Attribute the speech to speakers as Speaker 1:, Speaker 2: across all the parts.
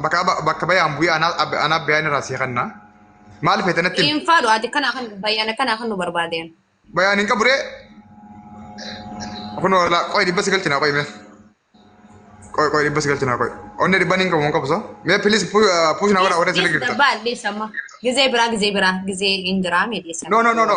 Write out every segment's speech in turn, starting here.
Speaker 1: Bakka bakka bayaan bu'ee anaa ab- anaa bayaan irraa sii kanna. Maal feete natti himi? Dhiinfaa dhu ati kana kan
Speaker 2: bayyana kana kan nu barbaadeen. Bayaan hin qaburee.
Speaker 1: Kun wala qoy dhibba si galchina qoy mee. Qoy qoy dhibba si galchina qoy. Onnee dhibban hin qabu hin qabu so. Mee pilis puush na godha warra sirri Dhiis girta. dabbaa dhiis amma.
Speaker 2: Gizee biraa gizee biraa gizee hin jiraa mee dhiisan. No no no no.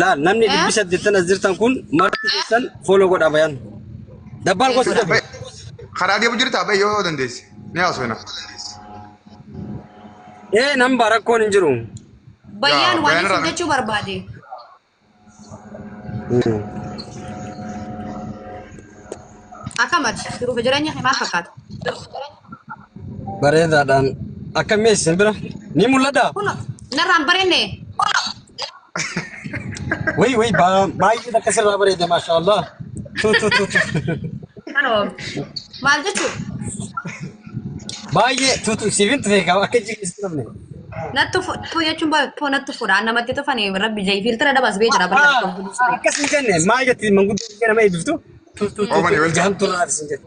Speaker 3: Laal namni Eh? dhibbi saddeettan as jirtan kun marti keessan fooloo godha bayan. Dabbaal gosa Eessa? dabe. Karaa deemu
Speaker 1: jirtaa ba'e yoo dandeesse. Ni haasofna.
Speaker 3: Ee nan bara rakkoon hin jiru. Bayyaan Yaa, waan
Speaker 2: Bayyaan irraa- fudhachuu barbaade. Akkamati jiruuf jireenya himaa fakkaata.
Speaker 3: Bareedaadhaan akkam mee isin bira ni mul'ata? Kuno, narraan
Speaker 2: barenne.
Speaker 3: Wayii wayii baa- baay'ee takka sirraa bareeda maashaa Allah. Tu tu tu tu. Kano,
Speaker 2: maal jechuu?
Speaker 3: Baay'ee tu tu siifin tufee qaba akka jigistu namni. Nattu fu-
Speaker 2: tu jechuun ba- tu nattu fuudha. Namatti tufani rabbi jai filtira dabas bee jira barra. Akkas hin jenne
Speaker 3: maal jetti manguddoo biyya nama eebbiftu? Tu tu tu Oomani tu welcome. jahamtu irraa isin jette.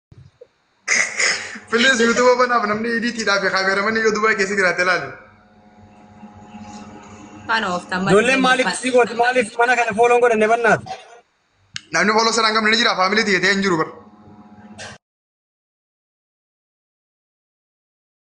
Speaker 1: Please YouTube banaaf namni idiitiidhaa fi kaameeramanii yoo Dubaay keessa jiraate ilaali. Kan ooftan
Speaker 2: malee. Ijoolleen maaliif si gooti
Speaker 3: maaliif mana kana fooloon godhanne bannaati. Namni
Speaker 1: fooloo saraan qabne ni jira faamilii tiyya ta'ee hin jiru bara.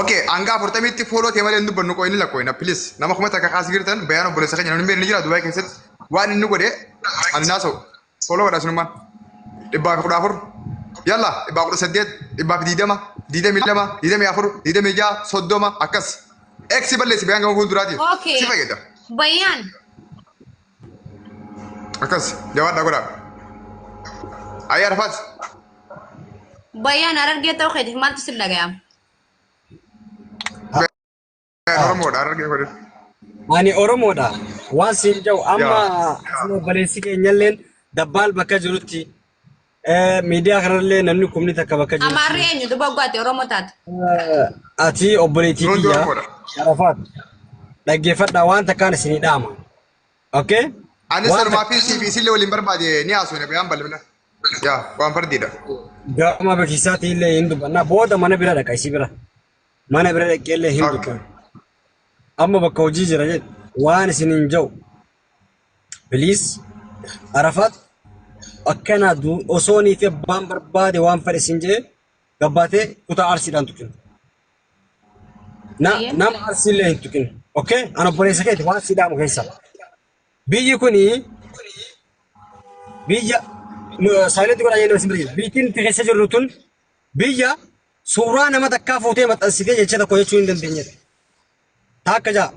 Speaker 1: Okay, hanga afurtamitti fooloo ta'e malee hin dubbannu qoy inni lakkoofna please. Nama kuma takka kaasii jirtan bayaan obboleessa keenya namni beekni jira Dubaay keessatti waan inni godhe ani naasa'u. Fooloo godha sunummaan. Dhibbaa fi kudha afur. Yalla dhibbaa kudha saddeet dhibbaa fi diidama diidamii lama diidamii afur diidamii ja'a soddoma akkas. Eksi balleessi bayaan gama fuulduraatiif. Okay. Si fayyada. Bayyaan. akkas jabaadhaa godhaa ayyaa arfaas
Speaker 2: Bayyaan arargee ta'uu keetiif maaltu sin dhaga'ama?
Speaker 1: oromoodha argee godhe Ani
Speaker 3: Oromoodha. Waan siin jedhu amma Yaa. obboleessi keenyalleen dabbaal bakka jirutti Eh, Miidiyaa kanarrallee namni kumni takka bakka jiru. Amaarri eenyu duba gwaate
Speaker 2: Oromoo taate. Eh, Ati
Speaker 3: obboleettii Roonjo kiyya Oromoodha. Arafaat dhaggeeffadhaa waan takkaan isinii dhaama. Okay? Anis Waan sanumaa
Speaker 1: fi siifi isillee waliin barbaade ni haasofne bayaan bal'ina. Yaa waan fardiidha. gama
Speaker 3: beeksisaatiin illee hin dubbanna. Booda mana bira dhaqa isii bira. Mana bira dhaqee illee hin Okay. dubbanna. Amma bakka hojii jira jedhu waan isin hin ja'u. Please Arafaat akkana du osoonii fi abbaan barbaade waan fedhe siin jee gabbaatee kutaa arsiidhaan tuqin. Na Ayyee. nama arsiillee hin tuqin. Okay? An obboleessa keeti waan si dhaamu keessa. Biyyi kuni biyya saayilanti godhaa jennee isin bira jirti. Biyyi nuti keessa jirru tun biyya suuraa nama takkaa fuutee maxxansitee jecha tokko jechuu hin dandeenyedha. Takka ja'a.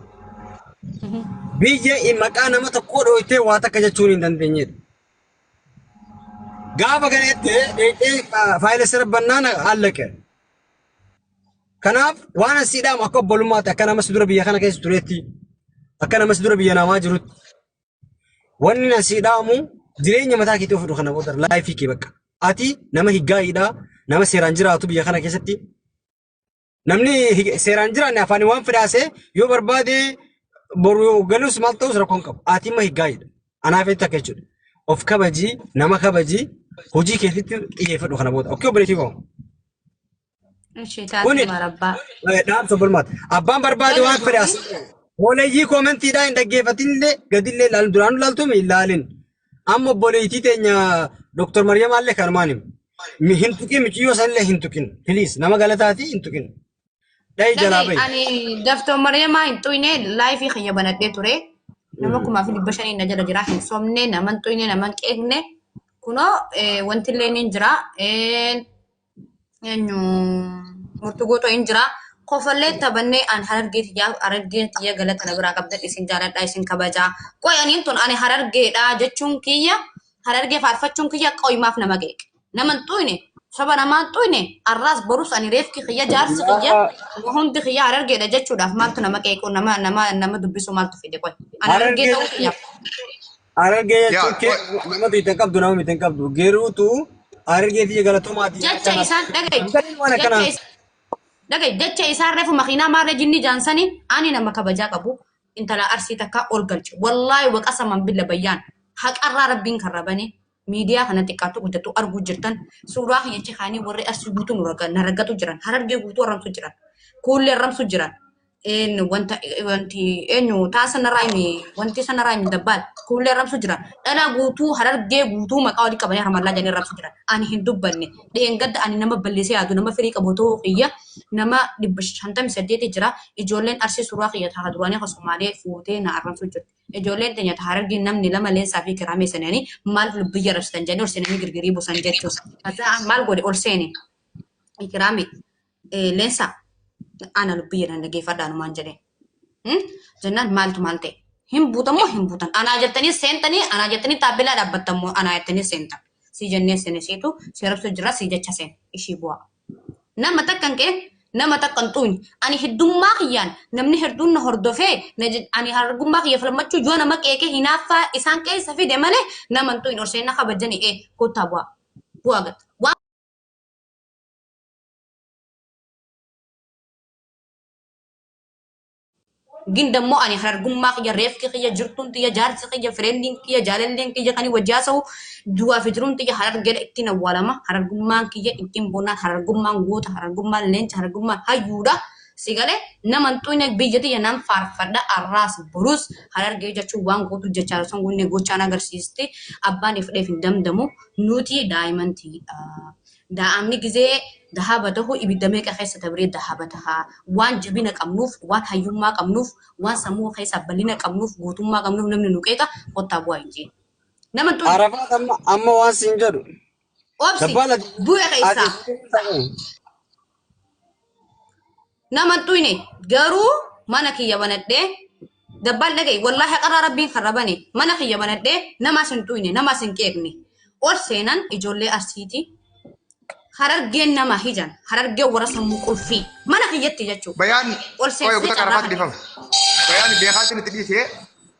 Speaker 3: Biyya maqaa nama tokkoo dhooytee waa takka jechuun hin dandeenyedha. Gaafa kana itti dheedhee faayila sirra bannaan allaqe. Kanaaf waan asii dhaamu akka obbolummaatti akka nama si dura biyya kana keessa tureetti akka nama si dura biyya namaa jirutti wanni na si dhaamu jireenya mataa keetii ofidhu kana booda laayifii kee bakka. Ati nama higgaa'iidha nama seeraan jiraatu biyya kana keessatti Namni hi- seeraan jiraanne afaan waan fedhaasee yoo barbaade boru yoo galus maal ta'us rakkoon qabu. Ati immoo higgaayidha. Anaaf jecha akka jechuudha. Of kabaji, nama kabaji, hojii keessatti xiyyeeffadhu kana booda. Okkee obboleetii koo. Ishee
Speaker 2: Kuni taatuma rabbaa. eh,
Speaker 3: dhaamsa
Speaker 2: bulmaata.
Speaker 3: Abbaan barbaade Jala waan fedhaas. gootee. Hooleyyii koomentiidhaa hin dhaggeeffatinillee gadillee ilaalin duraanuu ilaaltuu hin ilaalin. Amma obboleettii teenya Dr. Mariyamaa illee kanumaan hima. Mi- Hin tuqin miciyyoo san illee hin tuqin. Please nama galataati hin tuqin. Dhahi jalaa Lagi bahi. ani Dr.
Speaker 2: Mariyamaa hin xuyne laayifii kiyya banadhee ture. Nama kumaa fi dhibba shanii na jala jira. Hin sobne, nama hin xuyne, nama hin qeeqne. Kunoo eh, wanti illee ni jira. Eh, eenyu murtu gootoo hin jira. Kofallee taphannee an harargee tiyyaaf harargeen tiyya galata na biraa qabdan isin jaaladha isin kabajaa. Qoy aniin tun ani harargeedha jechuun kiyya harargee faarfachuun kiyya qoymaaf nama qeeqe. Nama hin xuyne saba namaa hin xuyne arraas borus ani reefki kiyya jaarsi kiyya Nama- hundi kiyya harargeedha jechuudhaaf maaltu nama qeequu nama nama nama dubbisuu maaltu fide qoy. Ani harargee Harargee ta'uu kiyyaaf. Harargee
Speaker 3: jechuun Yaa, kee wa- nama biitan qabdu nama biitan qabdu geeruutu harargee tiyya galatomaati jecha jecha kana isaan dhaga'i
Speaker 2: Intalli waan jecha akkanaa is- dhaga'i jecha isaan refu makiinaa maarra jinni jaansani ani nama kabajaa qabu intala arsii takkaa ol galche wallaahi waqasaman billa bayyaan haqarraa rabbiin karra bane miidiyaa kana xiqqaattu guddattu arguu jirtan suuraa kiyya achi kaanii warri arsii guutuu nu raga- na ragatu jiran harargee guutuu arrabsu jiran kuullee arrabsu jiran eenyu wanta wanti eenyu taa sanaraa himi wanti sanaraa himi dabbaal kuullee arrabsu jiran dhala guutuu harargee guutuu maqaa walii qabanii harmallaa jedhanii arrabsu jiran ani hin dubbanne dheengadda ani nama balleessee yaadu nama firii qabu ta'uu kiyya nama dhibba shantamii saddeeti jira ijoolleen arsii suuraa kiyya taa duraanii kan somaalee fuutee na arrabsu jirti Ijoolleen teenya ta Harargee namni lama Leensaa fi Kiraamee seenanii maaliif lubbu biyya arabsitan jedhanii ol seenanii girgirii buusan jechuus. Hataa maal godhe ol seene Kiraamee eh, Leensaa ana lubbu jedhan dhageeffadha anumaan jedheen. Hmm? Jennaan maaltu maal ta'e? Hin buutan moo hin buutan? Anaa jettanii seentanii anaa jettanii taappellaa dhaabbattan moo anaa jettanii seentan? Sii jennee seene siitu si arabsuu jira sii jecha seene ishii bu'aa. Nama takkan qeen nama takkan xuuny ani heddummaa kiyyaan namni hedduun na hordofee ani argummaa kiyya falmachuu yoo nama qeeqe hinaaffaa isaan keessa fide malee nama hin xuuyn orseenna kabajani ee koottaa bu'aa bu'aa gata waan Gin dammoo ani harargummaa kiyya, reefki kiyya, jirtuun tiyya, jaarsi kiyya, fireendiin kiyya, jaalalleen kiyya kani wajji haasawu du'aa fi jiruun tiyya harargeedha ittiin awwaalama. Harargummaan kiyya ittiin bonnaan harargummaan goota harargummaan leenca harargummaan hayyuudha. Si galee nama hin xuqne biyya tiyya nan faarfadha arraas borus harargee jechuun waan gootu jechaa osoo hin goone gochaan agarsiisti. Abbaan ifdheef hin damdamu nuti daa'iman tiyya. Daa'amni gizee dahaaba tahu ibidda meeqa keessa dabree dahaaba taha? Waan jabina qabnuuf, waan hayyummaa qabnuuf, waan sammuu keessaa bal'ina qabnuuf, gootummaa qabnuuf namni nu qeeqa kottaa bu'aa hin jeen. Nama hin tolu. Arafaat amma amma
Speaker 3: waan siin jedhu. Obsi Dabbaala
Speaker 2: bu'e keessaa. ati Nama hin dhuyne garuu mana kiyya banadhee dabbaan dhaga'i wallaahi haqarraa rabbiin kan rabane mana kiyya banadhee namaas hin dhuyne namaas hin qeeqne ol seenan ijoollee arsiiti harargeen nama hijan harargeen warra sammuu qulfii mana kiyyatti jechuu Bayaan ol qoyee seensee
Speaker 1: kutaa carraa
Speaker 2: qarafaa
Speaker 1: kana dhifama. Bayaan beekaatiin itti dhiisee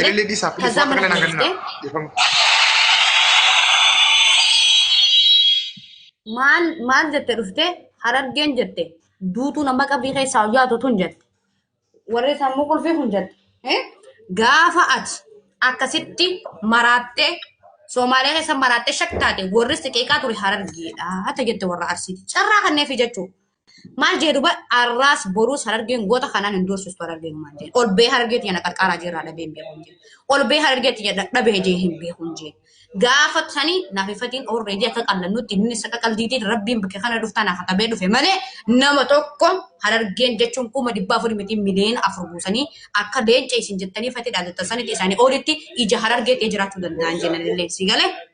Speaker 2: Elele di sapi
Speaker 1: kazaa
Speaker 2: mana kana geessee maal maal jette dhufte harargeen jette duutuu nama qabrii keessaa hojjaatu tun jette warri sammuu qulfii kun jette eh? gaafa ati akkasitti maraattee Soomaalee keessa maraattee shaktaate warri siqeeqaa ture harargeedha hata jette warra arsiiti carraa kanneefi jechuudha Maal jee duba arraas boruus harargeen goota kanaan hin doorsistu harargeen maal jee. Ol bee harargee tiyya na qarqaaraa jirraa dhabee hin beekuun jee. Ol bee harargee tiyya dadhabee jee hin beekuun jee. Gaafa tani naaf ifatiin oorree jee akka qallannutti inni isa qaqaldiitiin rabbiin bakka kana dhuftaa naaf qabee dhufe malee nama tokko harargeen jechuun kuma dhibbaa afurii miti miliyoona afur buusanii akka leenca isin jettanii fati dhaadatta sanitti isaanii oolitti ija harargee ta'ee jiraachuu danda'an jennanillee si galee.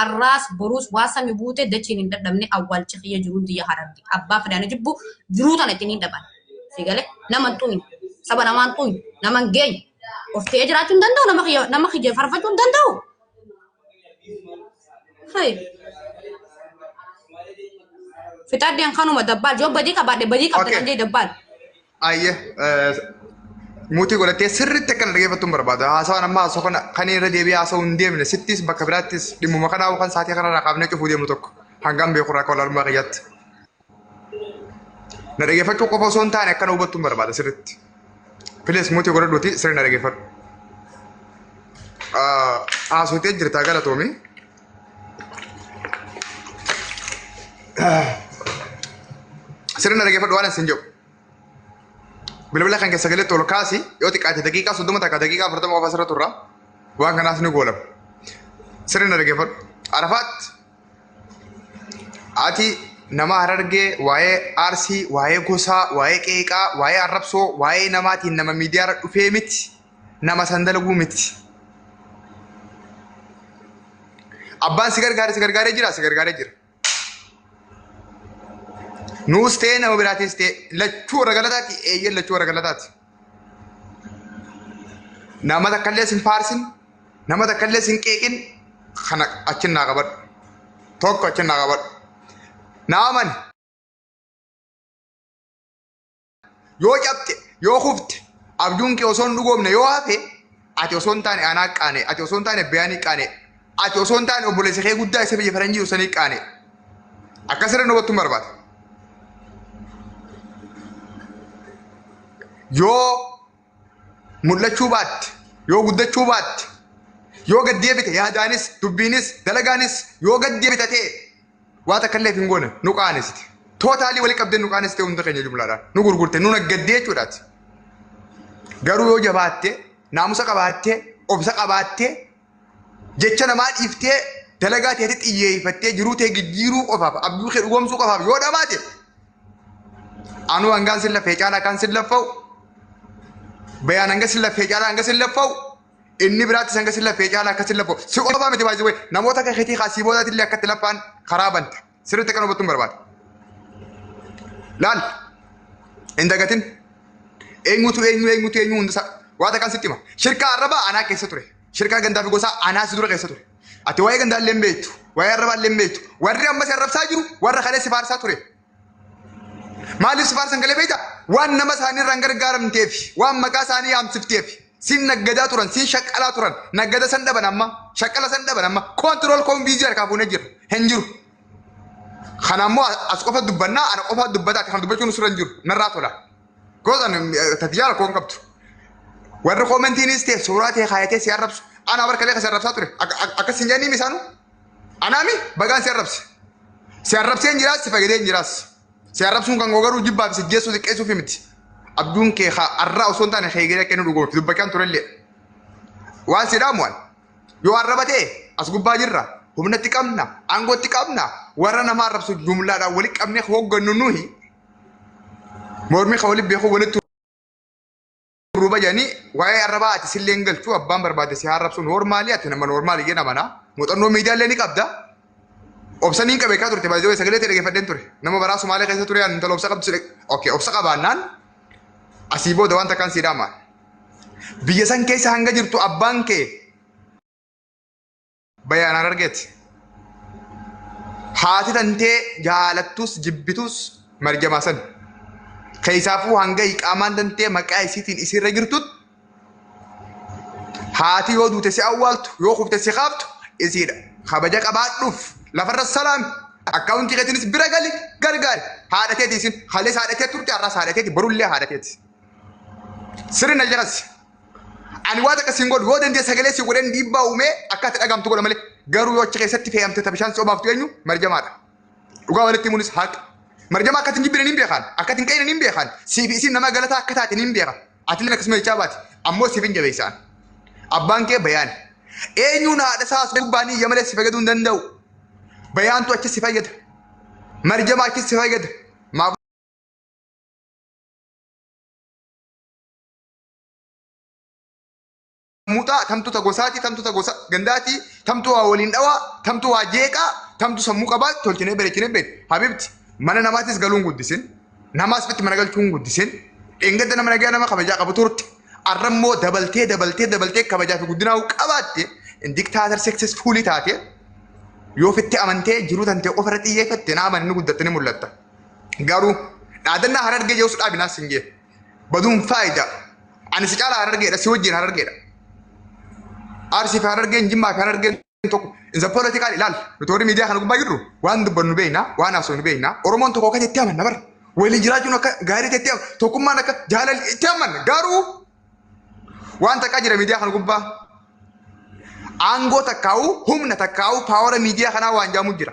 Speaker 2: Arraas boruus waa sami buute dachiin hin dadhabne awwaalchi kiyya jiruun tiyya hararge abbaa fedhe ana jibbu jiruu tana itti niin dhaban si gale nama hin xumin saba namaa hin xumin nama hin geenye of ta'ee jiraachuu hin danda'u nama kiyya nama kiyya farfachuu hin danda'u Hai. Fixaddeen kanuma dabbaal yoo badii qabaadhe badii qabda Okay. kan jee dabbaal Ayyee
Speaker 1: muutii godhattee sirriitti akka na dhaggeeffattu hin barbaadu. Haasawaan amma haasoo kana kan irra deebi'ee haasawuu hin deemne sittis bakka biraattis dhimmuma kanaa yookaan saatii kanarraa kaafnee cufuu deemnu tokko hangaan beekurraa akka walaalummaa kiyyaatti. Na dhaggeeffachuu qofa osoo hin taane akka na hubattu hin barbaada sirriitti. Pilees muutii godhadhuuti sirri na dhaggeeffadhu. Haasawtee jirtaa galatoomii. Sirna dhaggeeffadhu waan isin jedhu. Bilbila kan keessa galetti ol kaasi yoo xiqqaate daqiiqaa soddoma takka daqiiqaa afurtama qofa asirra turra. Waan kanaas ni goolama. Sirna dhaggeeffadhu. Arafaat ati nama harargee waa'ee aarsii, waa'ee gosaa, waa'ee qeeqaa, waa'ee arrabsoo, waa'ee namaatiin nama miidiyaarra dhufee miti. nama san dalaguu miti. Abbaan si gargaare si gargaaree jira si gargaaree jira. Nuus ta'ee nama biraatis ta'ee lachuu warra galataati eeyyeen lachuu warra galataati. Nama takkallee sin faarsin nama takkallee sin qeeqin kana achin naa qabadhu. Tokko achin naa qabadhu. Naaman Yoo cabte, yoo kufte, abjuun kee osoo hin dhugoomne yoo hafe, ati osoo hin taane anaa qaane, ati osoo hin taane beeyanii qaane, ati osoo hin taane obboleessa kee guddaa isa biyya faranjii usanii qaane. Akkasirra nu battuun barbaada. Yoo mul'achuu baatte, yoo guddachuu baatte, yoo gad deebite yaadaanis, dubbiinis, dalagaanis yoo gad deebita ta'e waa takka illee hin goone nu qaanessite. Tootaalii wali qabdee nu qaanessite hunda keenya jumlaadhaan nu gurgurte nu naggaddee jechuudhaati. Garuu yoo jabaatte, naamusa qabaatte, obsa qabaatte jecha namaa dhiiftee dalagaa teetti xiyyeeffattee jiruu tee jijjiiruu qofaaf abjuu kee dhugoomsuu qofaaf yoo dhabaate anuu hangaan sin laffee caalaa kan sin laffa'u bayaan hanga sin laffee caalaa hanga sin laffa'u inni biraattis hanga sin laffee caalaa akka sin laffa'u si qofa miti baay'isuu namoota akka keetii kaasii boodaatti illee akkatti laffaan karaa banta. sirriitti akkan hubattuun barbaada. Laal hin dagatin eenyutu eenyu eenyutu eenyu hundisaa waa takkaan sitti hima. Shirkaa arrabaa anaa keessa ture. Shirkaa gandaa fi gosaa anaa si dura keessa ture. Ati waa'ee gandaa illee hin beektu. Waa'ee arrabaa illee hin beektu. Warri ammas arrabsaa jiru warra kalee si faarsaa ture. Maaliif si faarsan galee beekta? Waan nama isaanii irraan gargaaramteef, waan maqaa isaanii yaamsifteef. Sin naggadaa turan, sin shaqqalaa turan. Naggada san dhaban amma, shaqqala san dhaban amma. Koontirool koon viizii harkaa fuunee jirra. Hin jiru. Kana ammoo as qofa dubbannaa, ana qofa dubbataati. Kana dubbachuun nusirra hin jiru. Narraa tola. Gootan tatijaala koon qabdu. Warri koomentiinis ta'e suuraa ta'e kaayatee si arrabsu. Anaa barka leeqa si arrabsaa ture. Akka- akka- Akkas hin jedhanii misaanu. Anaami bagaan si arrabse. Si arrabsee hin jiraas, si fayyadee hin jiraas. Si arrabsuun kan koo garuu jibbaa fi sijjeessuu xiqqeessuuf miti. Abjuun kee haa arraa osoo hin taane kee egeree akka inni dhugoomsu dubbachaan turellee. Waan si dhaamu waan yoo arraba ta'e as gubbaa jirra humnatti qabna aangootti qabna warra nama arrabsu jumlaadhaan walitti qabnee hooggannu nuyi mormii kan walitti beekuu walitti Ruba jani waa'ee arrabaa ati sillee hin galchu abbaan barbaade si haarrabsu noormaali ati nama noormaali jedha mana muuxannoo miidiyaa illee ni qabda obsa niin qabe kaa turte baay'ee sagalee ta'e dhaggeeffadheen ture nama baraa sumaalee keessa ture ani intala obsa qabdu si okay obsa qabaannaan asii booda wanta kan siidhaama biyya san keessa hanga jirtu abbaan kee Bayaan Harargeeti. Haati tantee jaalattus jibbitus marjamaa san. Keessaafuu hanga iqaamaan tantee maqaa isiitiin isiirra jirtut haati yoo duute si awwaaltu yoo kufte si kaaftu isiidha. Kabaja qabaadhuuf lafarra salaami. Akkaawuntii keetiinis bira gali gargaari. Haadha teeti isin halees haadha tee turte har'as haadha teeti borullee haadha teeti. Sirri na jalasi. Ani waan akka siin godhu yoo dandee sagalee sii godheen dhiibbaa uumee akka itti dhagahamtu godha malee garuu yoo achi keessatti fe'amte ta bishaan si obaaftu eenyu marjamaadha. Dhugaa walitti himuunis haqa. Marjama akka ittiin jibbine niin beekaan akka ittiin qeeyne niin beekaan siif isiin nama galataa akka taate niin beeka. Atillee akkasuma jechaa baati ammoo siif hin jabeessaan. Abbaan kee bayaan. Eenyuun haadha isaa osoo gubbaan iyya malee si fayyaduu hin danda'u. Bayaantu achi si fayyada. Marjama achi si fayyada. Maaf muxaa tamtu ta gosaati tamtu ta gosa gandaati tamtu waa waliin dhawaa tamtu waa jeeqaa tamtu sammuu qabaa tolchinee bareechinee beek habibti mana namaatis galuun guddisin namaas bitti mana galchuun guddisin dheengadda nama nagaa nama kabajaa qabu turte arrammoo dabaltee dabaltee dabaltee kabajaa fi guddinaa qabaatte diktaatar seksesfuulii taate yoo fitti amantee jiruu tantee ofirra xiyyeeffatte naama inni guddattanii mul'atta garuu dhaadannaa harargee jeessu dhaabinaas hin jee Baduun faayidaa. Ani si caalaa harargeedha, si wajjin harargeedha. Arsii fi harargeen, jimmaa fi harargeen tokko. Insa poolitikaan ilaal. Nuti warri miidiyaa kana gubbaa jirru waan dubbannu beekna, waan haasofnu beekna. Oromoon tokko akka itti amanna bara. Waliin jiraachuun akka gaarii ta'etti amanna. Tokkummaan akka jaalalli itti amanna. Garuu waan takkaa jira miidiyaa kana gubbaa. Aangoo takkaa'uu, humna takkaa'uu, paawara miidiyaa kanaa waan jaamu jira.